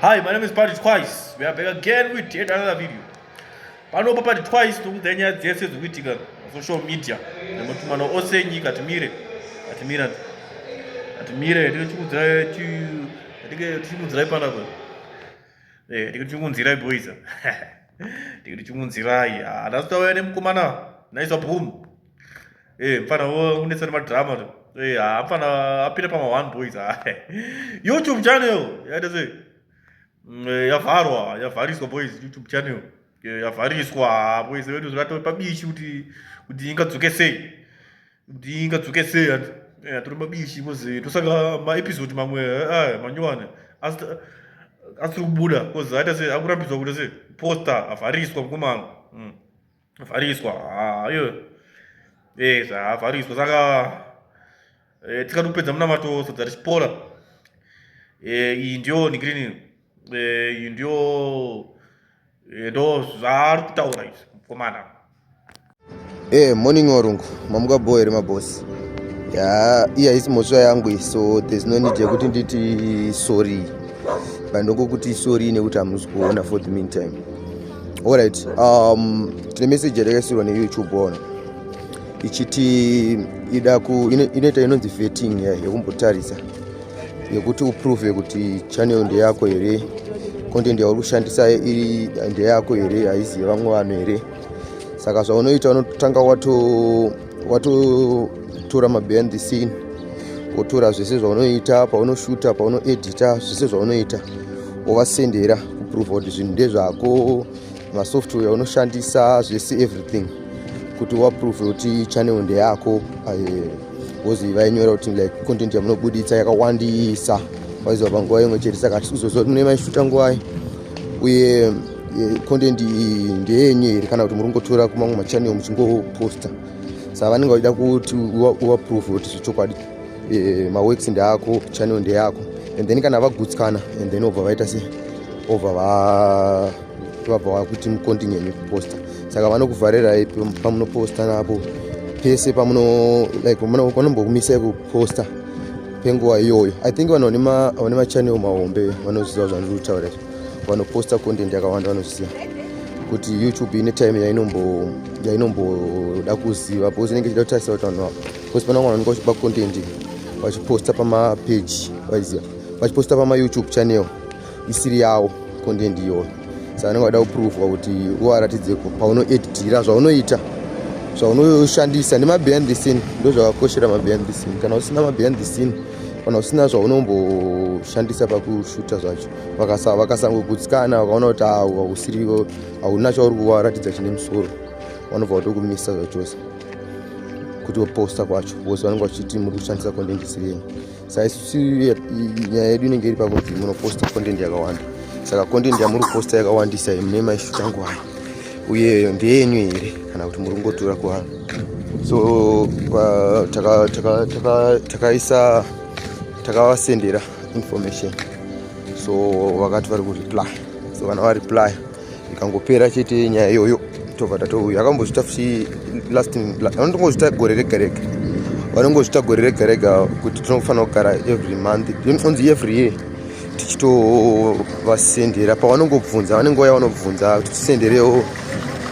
Hi, my name is Party Twice. We are back again with yet another video. Panopa Party Twice tokudzai nyaya dzese dzikuitika social media nematumano ose enyika timire atimira atimire tikudzirai tikudzirai panapa eh, tikudzirai boys ndikuti chimunzirai haana kutauya nemukomana naisa boom eh mfana unetsa nemadrama eh ha mfana apinda pama one boys ha youtube channel yaita sei mm, eh, yavharwa yavhariswa boys youtube channel eh, yavhariswa boys vedu zvatove pabishi kuti kuti ingadzoke sei ndingadzoke sei hanzi eh, tiri mabishi kozi tosaka maepisode mamwe aya eh, manyowani asiri kubuda kozi aita sei akurambidzwa kuita sei posta avhariswa mukomana hmm. avhariswa ayo ah, e zvaavhariswa saka eh, tikatopedza munamato sadza richipora iyi ndiyo nikirinini eh, iyi ndiyo eh, ndo zvaari kutaura izvi mukomana e morning warungu mamuka bho here mabosi ya iya isi mhosva yangu iyi so there's no need yekuti nditi sorry pandokokuti sorry nekuti hamusi kuona for the mean time allright um, tine meseji yatakaisirwa neyoutube waona ichiti ida ku inoita inonzi vetting ya yekumbotarisa yekuti uprove kuti channel ndeyako here content yauri kushandisa iri ndeyako here haizi yevamwe vanhu here saka zvaunoita unotanga watotora mabehind the scene wotora zvese zvaunoita paunoshuta paunoedita zvese zvaunoita wovasendera kuprova kuti zvinhu ndezvako masoftware unoshandisa zvese everything kuti waprove kuti channel ndeyako bcause eh, vainyora kuti like content yamunobuditsa yakawandisa waiziva panguva imwe chete saka tikuzoziva kuti mune maishuta nguvai uye eh, content iyi ndeyenyu here kana kuti muri kungotora kumamwe machannel muchingoposta saka vanenge vachida kuti waprove kuti zvechokwadi eh, maworks ndeako channel ndeyako and then kana vagutsikana and then obva vaita se obva va vabva vakuti mukontinenyu kuposta saka vanokuvharirai pamunoposta napo pese pamuno like vanombokumisai kuposta penguva iyoyo i think vanhu vane machanel mahombe vanoziva zvandiri kutaura izvi vanoposta content yakawanda vanoziva kuti youtube ine time yainomboda kuziva because inenge ichida kutarisa kuti vanhu ava because pana vamwe vanenge vachipa content vachiposta pamapeji vaiziva vachiposta pamayoutube channel isiri yawo content iyoyo saka vanenge vada kuprovwa kuti uvaratidze ko paunoeditira zvaunoita zvaunoshandisa nemabehind the scene ndo zvakakoshera mabehind the scene kana usina mabehind the scene kana usina zvaunomboshandisa pakushuta zvacho vakasangogutsikana vakaona kuti hausiri hauna chauri kuvaratidza chine musoro vanobva vatokumisa zvachose kuti voposta kwacho vose vanenge vachiti muri kushandisa content isiri yenyu saisusu nyaya yedu inenge iri pakuti munoposta content yakawanda saka content yamuri kuposta yakawandisa mune maishu tangu ayo uye ndeyenyu here kana kuti muri kungotura kuvanhu so takaisa takavasendera information so vakati vari kureply so kana vareply ikangopera chete nyaya iyoyo tobva tatouya akambozvita futi last vanotongozvita gore rega rega vanongozvita gore rega rega kuti tinofanira kugara every month onzi every year tichitovasendera pavanongobvunza vanenge vaya vanobvunza kuti tisenderewo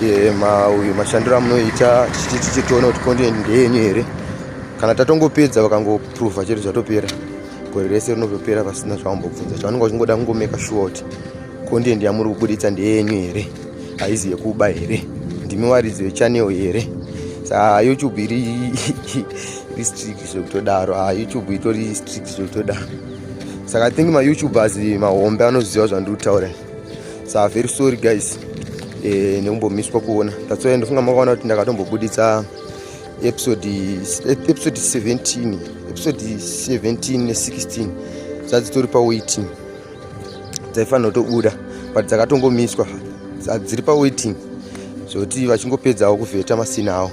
eh, mauyu mashandiro amunoita tichiti tichitoona kuti konde ndeyenyu here kana tatongopedza vakangopruvha chete zvatopera gore rese rinotopera pasina zvawambobvunza chavanenge vachingoda kungomeka shuwa kuti content yamuri kuburitsa ndeyenyu here haizi yekuba here ndimi waridzi wechanel here saa youtube iri iri strict zvekutodaro a youtube itori strict zvekutodaro saka i think mayoutubers mahombe anoziva zvandiri kutaura saa very sorry guys eh, nekumbomiswa kuona that's why ndofunga makaona kuti ndakatombobuditsa episode episode 17 episode 17 ne 16 dzadzitori pawaiting dzaifanira kutobuda but dzakatongomiswa dziri pawaiting zvekuti vachingopedzawo kuvheta masina awo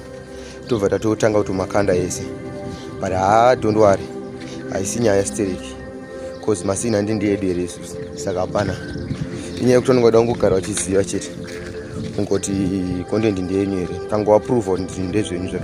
tobva tatotanga kuti makanda ese but haa don't worry haisi nyaya yastereki bcause masina ndi ndiyedu here isusu saka hapana inyaya yekuti vanenge vada kungogara vachiziva chete kungoti content ndiyenyu here kangoaprova kuti ndezvenyu zvato